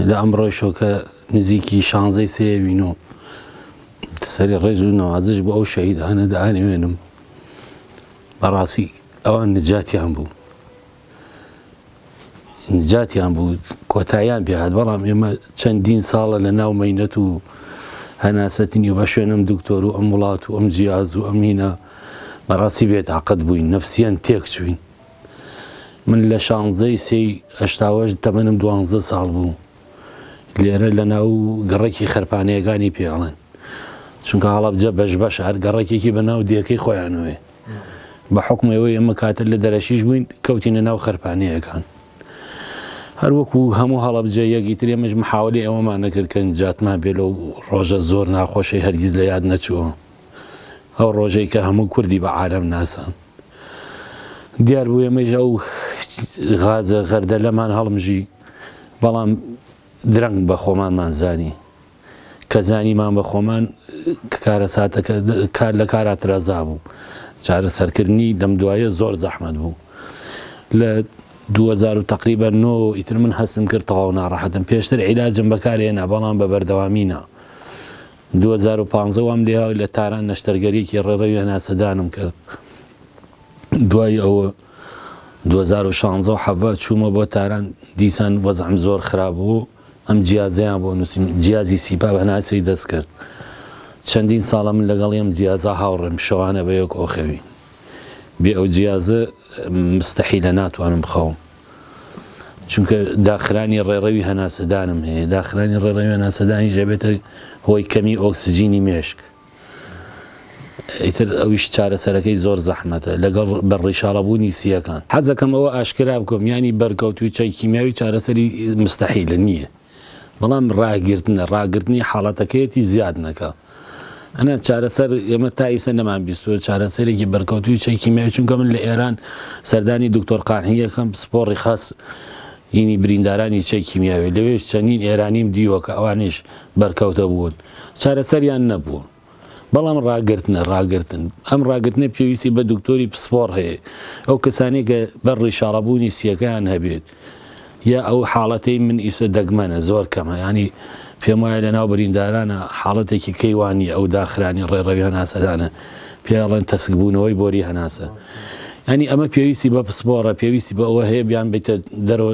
لە ئەمڕۆی شۆکە نزیکی شانزەی سێوین و سەری ڕێز و نەوازش بۆ ئەو شەهیدانە دانێوێنم بەڕاستی ئەوان نجاتیان بوو نجاتیان بوو کۆتاییان پێهات بەڵام ئێمە چەندین ساڵە لە ناو مەینەت و هەناسەتنی و بە شوێنم دکتۆر و ئەم وڵات و ئەم جیاز و ئەمینە بەڕاستی بێت عقد بووین نفسیەن تێک چوین من لە شانزەی سێی هشتاوەش تەمەنم دوانزە ساڵ بوو لێرە لە ناو گەڕێکی خەرپانەیەکانی پێڵێن چونکە هەڵەبجە بەش بەش هەر گەڕێکێکی بە ناو دیەکەی خۆیانەوەێ بە حوکمی ئەوەی ئێمە کاتر لە دەرەکیش بووین کەوتینە ناو خەرپانەیەکان هەر وەکو هەموو هەڵەبجەیەک ئیتر ئێمەش محاوەلی ئەوەمان نەکرد کە نجاتمان بێ لەو ڕۆژە زۆر ناخۆشەی هەرگیز لە یاد نەچووە ئەو ڕۆژەی کە هەموو کوردی بە عالەم ناسان دیار بوو ئێمەش ئەو غازە غەردەلەمان هەڵمژی بەڵام درەنگ بە خۆمانمان زانی کە زانیمان بە خۆمان کە کارەساتەکە کار لە کارا ترازا بوو چارەسەرکردنی لەم دوایە زۆر زەحمەت بوو لە 2000 و تقریبا نۆ ئیتر من هەستم کرد تەواو ناڕەحەتم پێشتر عیلاجم بەکارهێنا بەڵام بە بەردەوامی نا 2015 وام لێ لە تاران نەشتەرگەریەکی ڕێڕەوی هەناسەدانم کرد دوای ئەوە 2016 حەڤە چوومە بۆ تاران دیسان وەزعم زۆر خراپ بوو ئەم جیازەیان بۆ نووسیم، جیازی سیپا بە هەناسەی دەست کرد. چەندین ساڵە من لەگەڵی ئەم جیازە هاوڕێم، شەوانە بە یەک ئۆخەوین. بێ ئەو جیازە مستەحیلە ناتوانم بخەوم. چونکە داخرانی ڕێڕەوی هەناسەدانم هەیە، داخرانی ڕێڕەوی هەناسەدانیش ئەبێتە هۆی کەمی ئۆکسجینی مێشک. ئیتر ئەویش چارەسەرەکەی زۆر زەحمەتە لەگەڵ بەر ڕیشاڵە بوونی سییەکان. حەزەکەم ئەوە ئاشکرا بکەم یانی بەرکەوتووی چای کیمیاوی چارەسەری مستحیلە نییە بەڵام ڕاگرتنە ڕاگرتنی حاڵەتەکەیەتی زیاد نەکا ئەنا چارەسەر ئێمە تا ئیسە نەمان بیستووە چارەسەرێکی بەرکەوتووی چای کیمیاوی چونکە من لە ئێران سەردانی دکتۆر قانحی ئەکەم پسپۆڕی خاس ینی بریندارانی چای کیمیاوی لەوێش چەنین ئێرانیم دیوە کە ئەوانیش بەرکەوتە بوون. چارەسەریان نەبوو. بەڵام ڕاگرتنە ڕاگرتن ئەم ڕاگرتنە پێویستی بە دکتۆری پسپۆڕ هەیە ئەو کەسانی کە بەر ڕیشاڕەبوونی سیەکەیان هەبێت یا ئەو حاڵەتەی من ئیسە دەگمەنە زۆر کەمە ینی پێم وایە لە ناو بریندارانە حاڵەتێکی کەیوانی ئەو داخرانی ڕێڕەوی هەناسەدانە پێڵێن تەسکبوونەوەی بۆری هەناسە ینی ئەمە پێویستی بە پسپۆڕە پێویستی بە ئەوە هەیە بیان بیتە دەرەوە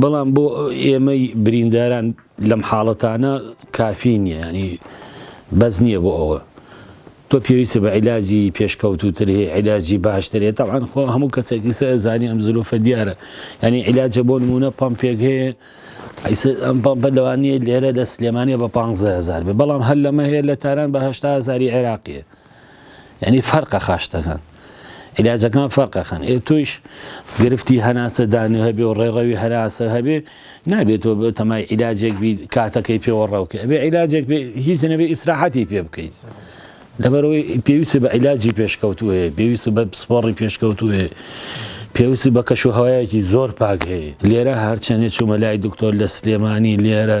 بەڵام بۆ ئێمەی برینداران لەم حاڵەتانە کافی نییە ینی بەس نییە بۆ ئەوە تۆ پێویستە بە عیلاجی پێشکەوتوتر هەیە عیلاجی باشترێت تاوان خۆ هەموو کەسێکی سە زانانی ئەم زلوفە دیارە ینی عیلاجە بۆ نمونە پمپێک هەیە ئەم پمپە لەوانەیە لێرە لە سلێمانە بە 15هزار بێ بەڵام هەر لەمە هەیە لە تاران بەهشتازاری عێراقیە یعنی فەرقە خاشتەکان علاجەکان فەرقەکان ئێ تۆیش گرفتی هەناسە دانێ هەبێ و ڕێڕەوی هەناسە هەبێ نابێتەوە بە تەمای علاجێک بی کاتەکەی پێوە ڕاوکە ئەبێ علاجێک هیچ نەبێ ئیسراحەتی پێ بکەیت لەبەرەوەی پێویست بە علاجی پێشکەوتو هەیە پێویست بە پسپۆڕی پێشکەوتو هەیە پێویست بە کەش و هەوایەکی زۆر پاک هەیە لێرە هەرچەندێ چوومە لای دکتۆر لە سلێمانی لێرە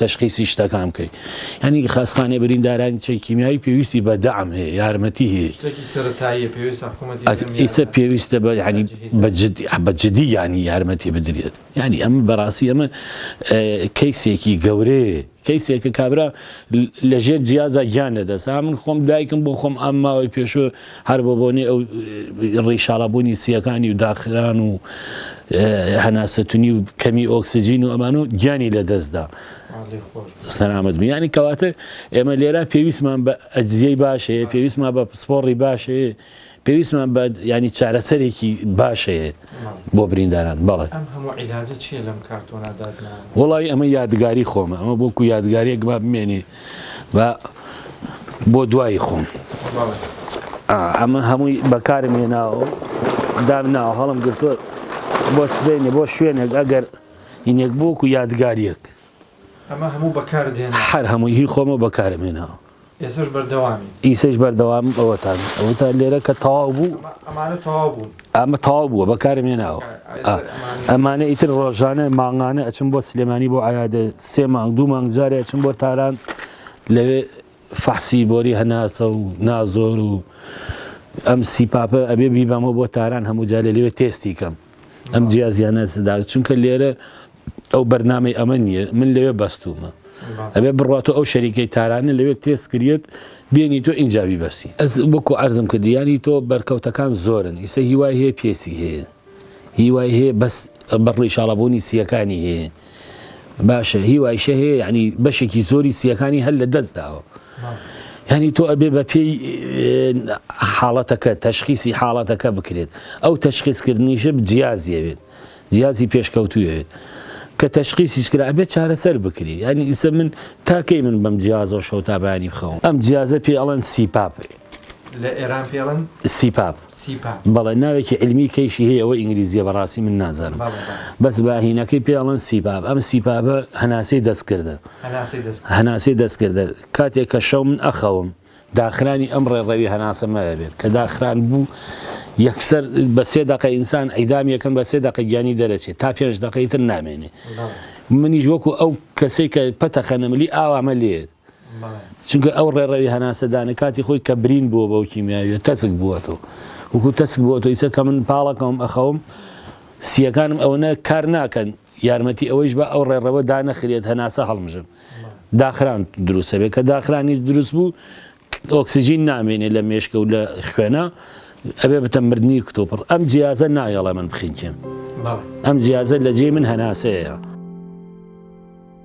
تەشخیسی شتەکان بکەی یانی خاسخانەی بریندارانی چەک کیمیایی پێویستی بە دام هەیە یارمەتی هەیە ئیسە پێویستە بە ینی بە جدی ینی یارمەتی بدرێت ینی ئەم بەڕاستی ئەمە کەیسێکی گەورەیە کەیسێکە کابرا لەژێر جیازە گیان لەدەسا من خۆم دایکم بۆ خۆم ئەم ماوەی پێشوە هەر بۆ بۆنەی ئەو ڕیشاڵە بوونی سییەکانی و داخران و هەناسەتونی و کەمی ئۆکسجین و ئەمان و گیانی لە دەستدا سەرامەت بیانی کەواتە ئێمە لێرا پێویستمان بە ئەجززیەی باشەیە پێویستمان بە پسپۆڕی باشەیە پێویستمان بە ینی چارەسەرێکی باشەیە بۆ برینداران بەڵێ وڵی ئەمە یادگاری خۆمە ئەمە بۆکو یادگارێک با بمێنی بە بۆ دوایی خۆم ئەمە هەمووی بەکارم هێناوە دام ناوە هەڵم گرتوە بۆ سبێنێ بۆ شوێنێک ئەگەر هینێک بۆک و یادگاریەک ئەمە هەموو بەکار دێن هەر هەمووی هی خۆمە بەکارم هێناوە ئێسش بەردەوامی ئیسش بەردەوام ئەوەتان ئەوتان لێرە کە تەواو بوو ئەمانە تەواو بوون ئەمە تەواو بووە بەکارم هێناوە ئەمانە ئیتر ڕۆژانە مانگانە ئەچم بۆ سلێمانی بۆ ئایادە سێ مانگ دوو مانگ جارێ ئەچم بۆ تاران لەوێ فەحسی بۆری هەناسە و نازۆر و ئەم سیپاپە ئەبێ بیبامەوە بۆ تاران هەموو جارێ لەوێ تێستی کەم ئەم جیازیانە سدا چونکە لێرە ئەو بەرنامەی ئەمە نییە من لەوێ بەستومە ئەبێ بڕات و ئەو شەریکەی تارانە لەوێ تێست کریت بینی تۆ ئینجاوی بەسی ئەس وەکو ئەرزم کردی ینی تۆ بەرکەوتەکان زۆرن ئیسە هیوای هەیە پێسی هەیە هیوای هەیە بەس بەڕی شاڵەبوونی سیەکانی هەیە باشە هیوایشە هەیە ینی بەشێکی زۆری سیەکانی هەر لە دەست داوە. ینی تۆ ئەبێ بە پێی حاڵەتەکە تەشخیسی حاڵەتەکە بکرێت ئەو تەشخیزکردنیشە جیازیەوێت جیاجی پێشکەوتووێت کە تەشخیسیش کرا ئەبێت چارەسەر بکری یانی ئیسە من تا کەی من بەم جیازەوە شەو تا بەیانی بخەوم ئەم جیازە پێی ئەڵێن سیپاپ لە ئێران پێی ئەڵێن سیپاپ سیپاپ بەڵێ ناوێکی علمی کەیشی هەیە ئەوە ئینگلیزیە بەڕاستی من نازانم بەڵێ بەڵێ بەس باهینەکەی پێی ئەڵێن سیپاپ ئەم سیپاپە هەناسەی دەستکردە هەناسەی دەست هەناسەی دەستکردە کاتێک کە شەو من ئەخەوم داخرانی ئەم ڕێڕەوی هەناسە مەەبێت کە داخران بوو یەکسەر بە سێ دەقە ئینسان ئەیدام یەکەم بە سێ دەقە گیانی دەرەچێت تا پێنج دەقەی تر نامێنێ منیش وەکو ئەو کەسێک کە پەتە خەنەملی ئاوامە لێت چونکە ئەو ڕێڕەوی هەناسەدانە کاتی خۆی کە برین بووە بەو کیمیاویە تەسک بووەەوە وەکو تەسک بووە تۆ ئیسە کە من پاڵەکەم ئەخەوم سیەکانم ئەوەنە کار ناکەن یارمەتی ئەوەیش با ئەو ڕێڕەوە دانەخرێت هەناسە هەڵمژن داخران دروست ئەبێت، کە داخرانیش دروست بوو ئۆکسجین نامێنێت لە مێشکە و لە خوێنە ئەبێ بتە مردنی کتۆپڕ ئەم جیازە نایەڵێ من بخنکێن ئەم جیازە لە جێ من هەناسەیە.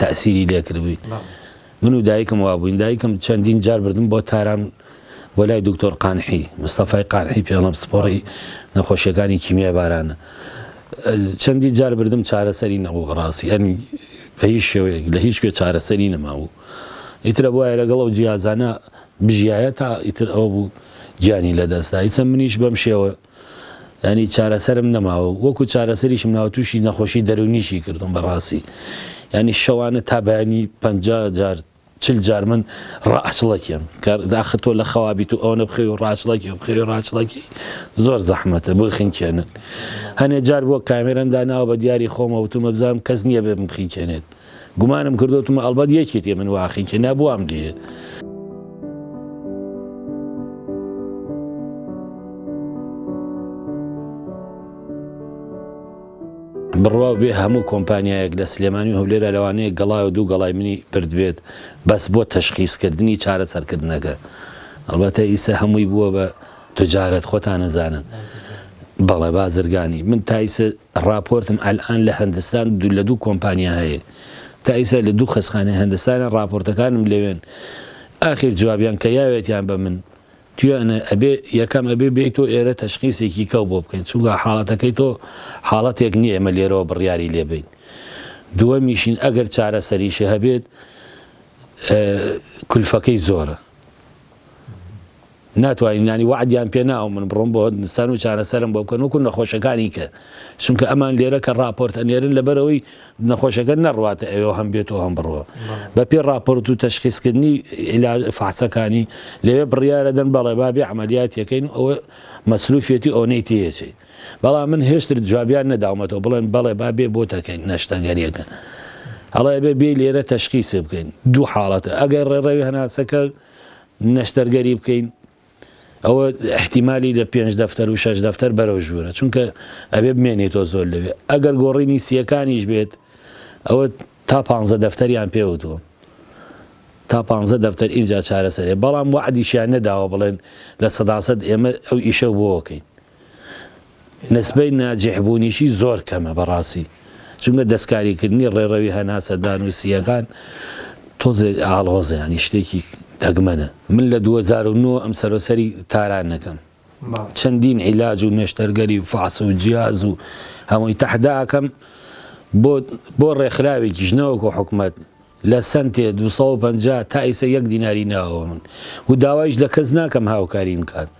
تەئسیری لێ کردبووی من و دایکم وا بووین دایکم چەندین جار بردم بۆ تاران بۆ لای دکتۆر قانحی مستەفای قانحی پێڵم سپۆڕی نەخۆشیەکانی کیمیای بارانە چەندی جار بردم چارەسەری نەبوو بەڕاستی ئەنی بە هیچ شێوەیەک لە هیچ کوێ چارەسەری نەماوو ئیترە بواە لەگەڵ و جیازانە بژایە تا ئیتر ئەو بوو گیانی لەدەستدا هیچە منیش بەم شێوە یانی چارەسەرم نەماوە و وەکو چارەسەریشم ناوە تووشی نەخۆشی دەروونیشی کردووم بەڕاستی یانی شەوانە تا بەیانی پەنجا جار چل جار من ڕاچڵەکێم کار داخە تۆ لە خەوابیت و ئەوەنە بخەوی و ڕاچڵەکی و بخەوی ڕاچڵەکی زۆر زەحمەتە بۆی خنکێنن هەنێ جار بۆ کامێرەم داناوە بە دیاری خۆمە وتومە بزانم کەس نییە بێ بمخینکێنێت گومانم کردوتمە ئەڵبەت یەکێتی من واخی کە نابووام دێ. بڕواو بێ هەموو کۆمپانیایەک لە سلێمانی و هەولێرا لەوانەیە گەڵای و دوو گەڵای منی بردبێت بەس بۆ تەشخیسکردنی چارە سەرکردنەکە ئەڵبەتە ئیسە هەمووی بووە بە تجارەت خۆتان نەزانن بەڵێ بازرگانی من تایسە ڕاپۆرتم ئەلئان لە هەندستان دوو لە دوو کۆمپانیا هەیە تا ئیستا لە دوو خەسخانەی هەندستانە ڕاپۆرتەکانم لەوێن ئاخیر جوابیان کە یاوێتیان بە من تویانە ئەبێ یەکەم ئەبێ بێی تۆ ئێرە تەشخیسێکی کەو بۆ بکەین چونگا حاڵەتەکەی تۆ حاڵەتێک نیە ئێمە لێرەوە بڕیاری لێ بین دووەمیشین ئەگەر چارەسەریشی هەبێت کلفەکەی زۆرە. ناتوانین یانی وەعدیان پێ ناوم من بڕۆم بۆ هندستان و چارەسەرم بۆ بکەن وەکو نەخۆشەکانی کە چونکە ئەمان لێرە کە ڕاپۆرت ئەنێرن لەبەرئەوەی نەخۆشەکە نەڕواتە ئەوێ و هەم بێت و هەم بڕوا بەپێی ڕاپۆرت و تەشخیسکردنی عیلاج فەحسەکانی لەوێ بڕیارە دەن بەڵێ با بێ عەمەلیاتی کەین ئەوە مەسروفیەتی ئەونەی تێیەچێ بەڵام من هێشتر جوابیان نەداومەتەوە بڵێن بەڵێ با بێ بۆ تەکەین نەشتەگەریەکە ئەڵێ بێ بێ لێرە تەشخیسێ بکەین دوو حاڵەتە ئەگەر ڕێڕەوی هەناسەکە نەشتەرگەری بکەین ئەوە احتیمالی لە پێنج دەفتەر و شەش دەفتەر بەرەو ژوورە چونکە ئەبێ بمێنێتەوە زۆر لەوێ ئەگەر گۆڕینی سیەکانیش بێت ئەوە تا پ دەفتەریان پێوتوە تا پ دەفتەر ئینجا چارەسەرێ بەڵام وعدیشیان نەداوە بڵێن لە سەداسەد ئێمە ئەو ئیشە بۆکەین نسبەی ناجیح بوونیشی زۆر کەمە بەڕاستی چونکە دەستکاریکردنی ڕێڕەوی هەناسە دانوسییەکان تۆزێک ئاڵۆزە ینی شتێکی دەگمەنە من لە 2009 ئەم سەرۆسەری تاران نەکەم چەندین عیلاج و نێشتەرگەری و فاس و جیاز و هەمووی تەحداکەم بۆ ڕێکخراوێکیش نەوەکو حکومت لە سنتێ 250 تا ئیسە یەک دیناری ناوە من و داوایش لە کەس ناکەم هاوکاریم کات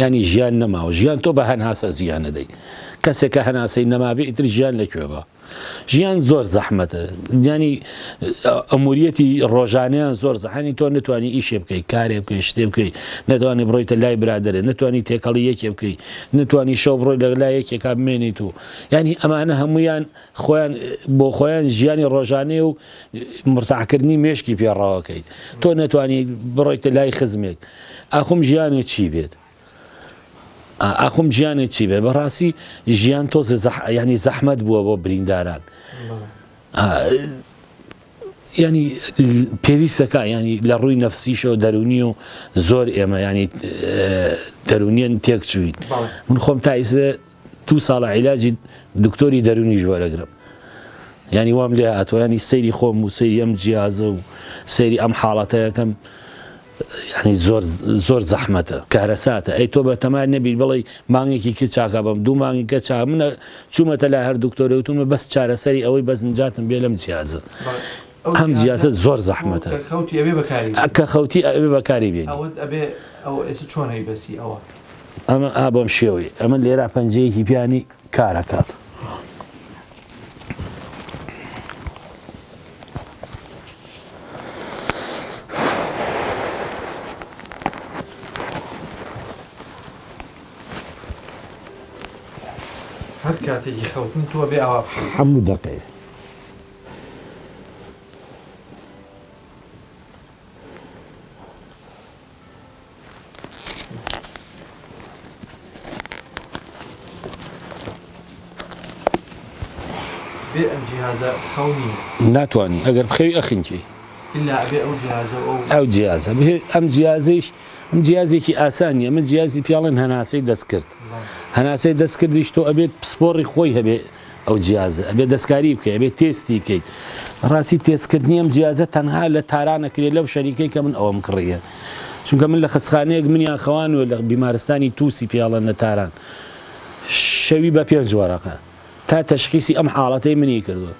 یانی ژیان نەماوە ژیان تۆ بە هەناسە زیانەدەی کەسێک کە هەناسەی نەمابێ ئیتر ژیان لەکوێ بە ژیان زۆر زەحمەتە ینی ئەموریەتی ڕۆژانیان زۆر زەحانی تۆ نتوانانی ئیشێ بکەیت کارێ بکەیت شتێ بکەیت نەتوانانی بڕۆیتە لای برادرێ نتوانانی تێکەڵی یەکێ بکەیت نتوانانی شەو بڕۆی لەگەلا یەکێکا بمێنیت و ینی ئەمانە هەمویان خۆیان بۆ خۆیان ژیانی ڕۆژانەیە و مرتاحکردنی مێشکی پێ ڕەواکەیت تۆ نەتوانی بڕۆیتە لای خزمێک ئاخۆم ژیانێ چی بێت ئاخۆم ژیانێ چی بێت بەڕاستی ژیان تۆ ینی زەحمەت بووە بۆ برینداران ینی پێویستەکە ینی لە ڕووی نەفسیشەوە دەرونی و زۆر ئێمە ینی دەرونیان تێک چوین من خۆم تایزە دوو ساڵە عیلاجی دکتۆری دەرونیش وەرەگرم ینی وام لێ هاتوە ینی سەیری خۆم و سەیری ئەم جیازە و سەیری ئەم حاڵەتەکەم ینی زۆر زۆر زەحمەتە کارەساتە ئەی تۆ بە تەمای نەبییر بڵی مانگێکی کە چاکە بەم دوو مانگی کە چا منە چوومەتە لای هەر دکتۆرەوتمە بەس چارەسەری ئەوەی بەس نجاتم بێ لەم جیازە ئەم جیازە زۆر زەحمەتە کە خەوتی ئەوێ بەکاری بێ چۆن هەی بەسی ئەوە ئەمە ئا بەم شێوەی ئەمە لێرا پەنجەیەکی پیانی کارەکات. هەر کاتێکی خەوتن تۆ بێ ئاوا هەموو دەقەیە بێ ئەم جیهازە خەو نییە ناتوانانی ئەگەر بخەوی ئەخینکی ئەو جیازە ئەم جیازیش ئەم جیازێکی ئاسانیە من جیازی پیاڵێن هەناسەی دەست کرد هەناسەی دەست کردیش تۆ ئەبێت پسپۆڕی خۆی هەبێت ئەو جیازە ئەبێ دەستکاری بکەی ئەبێ تێستی کەیت ڕاستی تێستکردنی ئەم جیازە تەنها لە تارانە کرێ لەو شەریکەی کە من ئەوم کڕیە چونکە من لە خستخانەیەک منیان خەوانوە لە بیمارستانی تووسی پیاڵە نە تاران شەوی بە پێنج وەرەقە تا تەشخیسی ئەم حاڵەتەی منی کردوە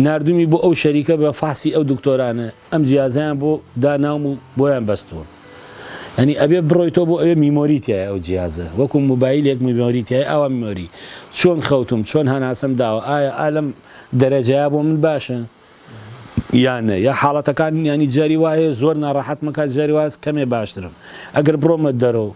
نردومی بۆ ئەو شەریکە بە فاسی ئەو دکتۆرانە ئەم جیازەیان بۆ دا ناوم و بۆیان بەستووە یانی ئەبێ بڕۆیتەوە بۆ ئەوێ میمۆری تیایە ئەو جیازە وەکو موبایلێک میمۆری تیایە ئاوا میمۆری چۆن خەوتوم چۆن هەناسەم داوە ئایا ئالەم دەرەجەیە بۆ من باشە یان نە یا حاڵەتەکان یانی جاری وایە زۆر ناڕەحەتمە کات جاری واز کەمێ باشترم ئەگەر بڕۆمە دەرەوە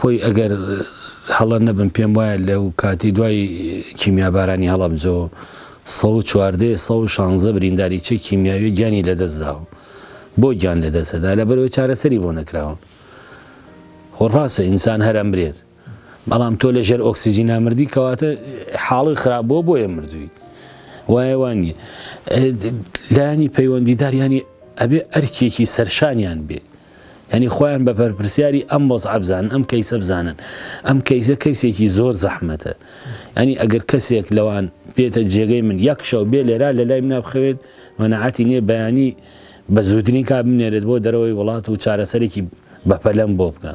خۆی ئەگەر هەڵە نەبم پێم وایە لەو کاتی دوای کیمیابارانی هەڵەبجە و سەد و چواردە ی سەد و شانزە برینداریی کیمیاوی گیانی لەدەستداوە بۆ گیان لەدەستەدا لەبەرئەوەی چارەسەری بۆ نەکراوە خۆ ڕاستە ئینسان هەر ئەمرێت بەڵام تۆ لەژێر ئۆکسجینا مردی کەواتە حاڵی خراپ بۆ بۆیە مردووی وایە وانی لانی پەیوەندیدار ینی ئەبێ ئەرکێکی سەرشانیان بێ یانی خۆیان بە بەرپرسیاری ئەم وەزعە بزانن ئەم کەیسە بزانن ئەم کەیسە کەیسێکی زۆر زەحمەتە ینی ئەگەر کەسێک لەوان بێتە جێگەی من یەک شەو بێ لێرا لە لای منە بخەوێت مەنەعاتی نییە بەیانی بە زووترین کا بنێرێت بۆ دەرەوەی وڵات و چارەسەرێکی بەپەلەم بۆ بکە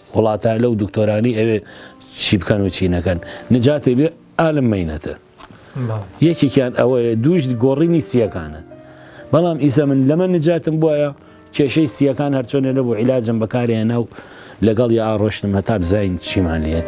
وڵاتە لەو دکتۆرانی ئەوێ چی بکەن و چی نەکەن نجاتێ بێ ئالم مینەتە یەکێکیان ئەوەیە دووش گۆڕینی سیەکانە بەڵام ئیسە من لەمە نجاتم بواە کێشەی سیەکان هەرچۆنێ نەبوو عیلاجم بەکارێ ناو لەگەڵ یا ئاڕۆشتم هەتا بزین چیمان لێت.